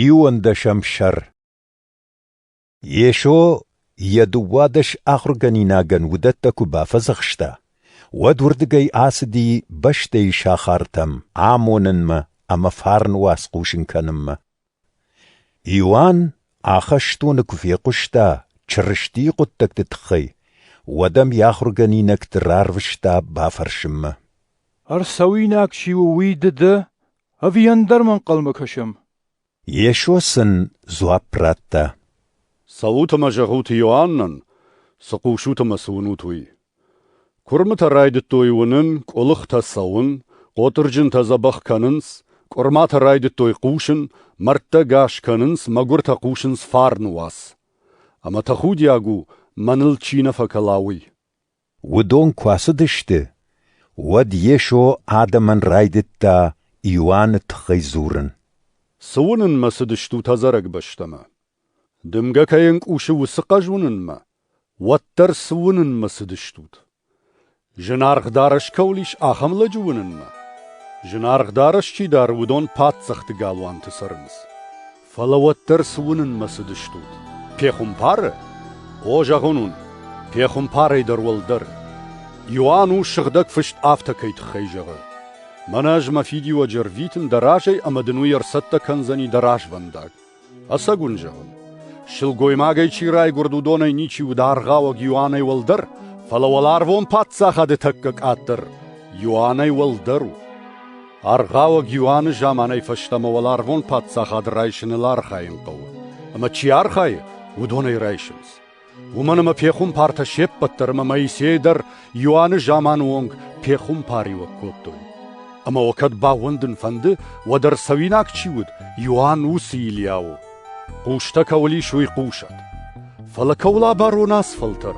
Иуӕндӕсӕм сӕр Йесо йӕ дыууадӕс ахуыргӕнинагӕн уыдӕттӕ куы бафӕдзӕхста, уӕд уырдыгӕй ацыди бӕстӕйы сахартӕм амонынмӕ ӕмӕ фарн уац хъусын кӕнынмӕ. Иоанн ахӕстоны куы фехъуыста Чырыстийы хъуыддӕгты тыххӕй, уӕд ӕм йӕ ахуыргӕнинӕгты рарвыста бафӕрсынмӕ. — Ӕрцӕуинаг чи у, уый ды дӕ? Ӕви ӕндӕр ма ӕнхъӕлмӕ кӕсӕм? Йесо сын дзуапп радта. Цӕут ӕмӕ зӕгъут Иоаннӕн, цы хъусут ӕмӕ цы уынут, уый. Куырмытӕ райдыдтой уынын, къуылыхтӕ цӕуын, хъотырджынтӕ дзӕбӕх кӕнынц, къуырматӕ райдыдтой хъусын, мӕрдтӕ гас кӕнынц, мӕгуыртӕ хъусынц фарны уац. Ӕмӕ тӕхудиаг у, мӕныл чи нӕ фӕкӕла, уый. Уыдон куы ацыдысты, уӕд Йесо адӕмӕн райдыдта Иоанны тыххӕй дзурын. «Цы уынынмӕ цыдыстут ӕдзӕрӕг бӕстӕмӕ? Дымгӕ кӕй ӕнкъусы уыцы хъӕз уынынмӕ, уӕддӕр цы уынынмӕ цыдыстут? Зынаргъ дарӕс кӕуыл ис, ахӕм лӕджы уынынмӕ? Зынаргъ дарӕс чи дары, уыдон паддзӕхты галуанты цӕрынц. Фӕлӕ уӕддӕр цы уынынмӕ цыдыстут? Пехуымпары? О, зӕгъын уын, пехуымпарӕй дӕр уӕлдӕр. Иоанн у, Сыгъдӕг Фыст афтӕ кӕй тыххӕй зӕгъы: «Мӕнӕ ӕз мӕ фидиуӕджы ӕрвитын дӕ разӕй ӕмӕ дын уый ӕрцӕттӕ кӕндзӕни дӕ развӕндаг». Ӕцӕг уын зӕгъын, сылгоймагӕй чи райгуырд, уыдонӕй ничи уыд аргъауӕг Иоаннӕй уӕлдӕр, фӕлӕ уӕларвон Паддзахады тӕккӕ къаддӕр Иоаннӕй уӕлдӕр у. Аргъауӕг Иоанны заманай фӕстӕмӕ уӕларвон паддзахад райсыныл архайын хъӕуы, ӕмӕ чи архайы, уыдон ӕй райсынц. Уымӕн ӕмӕ пехуымпартӕ се ппӕт дӕр ӕмӕ Моисей дӕр Иоанны заманы онг пехуымпариуӕг кодтой. Ӕмӕ уӕ кӕд баууӕндын фӕнды, уӕд ӕрцӕуинаг чи уыд, Иоанн уыцы Илиа у. Хъустӕ кӕуыл ис, уый хъусӕд. Фӕлӕ кӕуыл абарон ацы фӕлтӕр?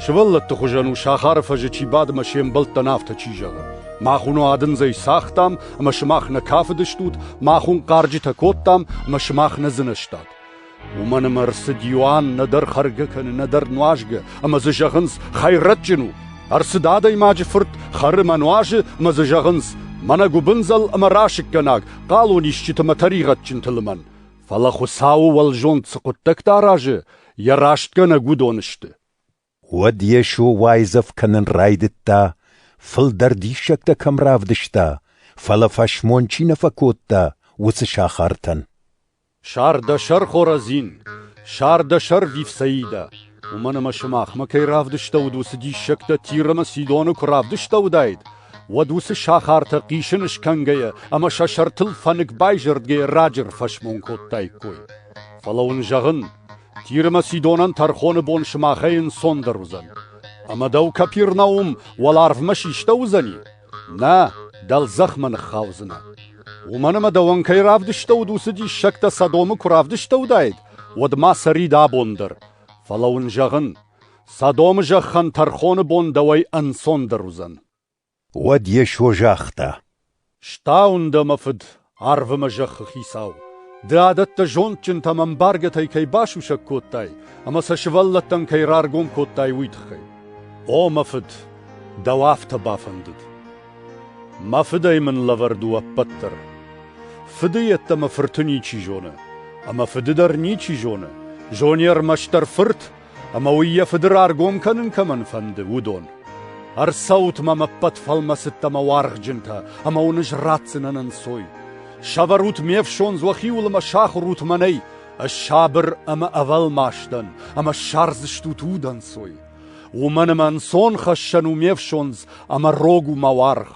Сывӕллӕтты хуызӕн у, сахары фӕзы чи бады мӕ се мбӕлттӕн афтӕ чи зӕгъы. Мах уыно адындзӕй цагътам, ӕмӕ сымах нӕ кафыдыстут, мах уын хъарджытӕ кодтам, ӕмӕ сымах нӕ дзынӕзтат. Уымӕн ӕмӕ ӕрцыд Иоанн нӕдӕр хӕргӕ кӕны, нӕдӕр нуазгӕ, ӕмӕ дзы зӕгъынц, хӕйрӕджджын у. Ӕрцыд адӕймаджы фырт хӕры мӕ нуазы, ӕмӕ дзы зӕгъынц, мӕнӕ гуыбындзӕл ӕмӕ расыггӕнаг, хъалонисджытӕ мӕ тӕригъӕдджынты лымӕн, фӕлӕ Хуыцауы уӕлзонд цы хъуыддӕгтӕ аразы, йӕ растгӕнӕг уыдон сты. Уӕд Йесо уайдзӕф кӕнын райдыдта, фылдӕр диссӕгтӕ кӕм равдыста, фӕлӕ фӕсмон чи нӕ фӕкодта, уыцы сахартӕн. Сар дӕ сӕр, Хоразин, сар дӕ сӕр, Вифсаидӕ! Уымӕн ӕмӕ сымахмӕ кӕй равдыстӕуыд уыцы диссӕгтӕ Тир ӕмӕ Сидоны куы равдыстӕуыдаид, уӕд уыцы сахартӕ хъисын скӕнгӕйӕ ӕмӕ сӕ сӕртыл фӕнык байзӕрдгӕйӕ раджы ӕрфӕсмон кодтаиккой. Фӕлӕ уын зӕгъын, Тир ӕмӕ Сидонӕн тӕрхоны бон сымахӕй ӕнцондӕр уыдзӕн. Ӕмӕ дӕу Капернаум уӕларвмӕ систӕуыдзӕни? Нӕ, дӕлдзӕхмӕ ныххаудзынӕ. Уымӕн ӕмӕ дӕуӕн кӕй равдыстӕуыд уыцы диссӕгтӕ Содомы куы равдыстӕуыдаид, уӕд ма цӕри дӕ бон дӕр. Фӕлӕ уын зӕгъын, Содомы зӕххӕн тӕрхоны бон дӕуӕй ӕнцондӕр уыдзӕн. Уӕд Йесо загъта: «Стауын дӕ, мӕ фыд, Арвы мӕ зӕххы хицау, ды адӕттӕ зондджынтӕм ӕмбаргӕтӕй кӕй басусӕг кодтай ӕмӕ сӕ сывӕллӕттӕн кӕй раргом кодтай, уый тыххӕй. О, мӕ фыд, дӕу афтӕ бафӕндыд. Мӕ фыдӕй мын лӕвӕрд у ӕппӕт дӕр. Фыды йеддӕмӕ фырты ничи зоны, ӕмӕ фыды дӕр ничи зоны, зони ӕрмӕстдӕр фырт ӕмӕ уый йӕ фыды раргом кӕнын кӕмӕн фӕнды, уыдон. Ӕрцӕут-ма ме ппӕт фӕлмӕцыдтӕ мӕ уаргъджынтӕ, ӕмӕ уын ӕз ратдзынӕн ӕнцой. Сӕвӕрут ме фсон уӕхиуыл ӕмӕ сахуырут мӕнӕй, ӕз сабыр ӕмӕ ӕвӕлмас дӕн, ӕмӕ ссардзыстут удӕнцой. Уымӕн ӕмӕ ӕнцон хӕссӕн у ме фсондз ӕмӕ рог у мӕ уаргъ.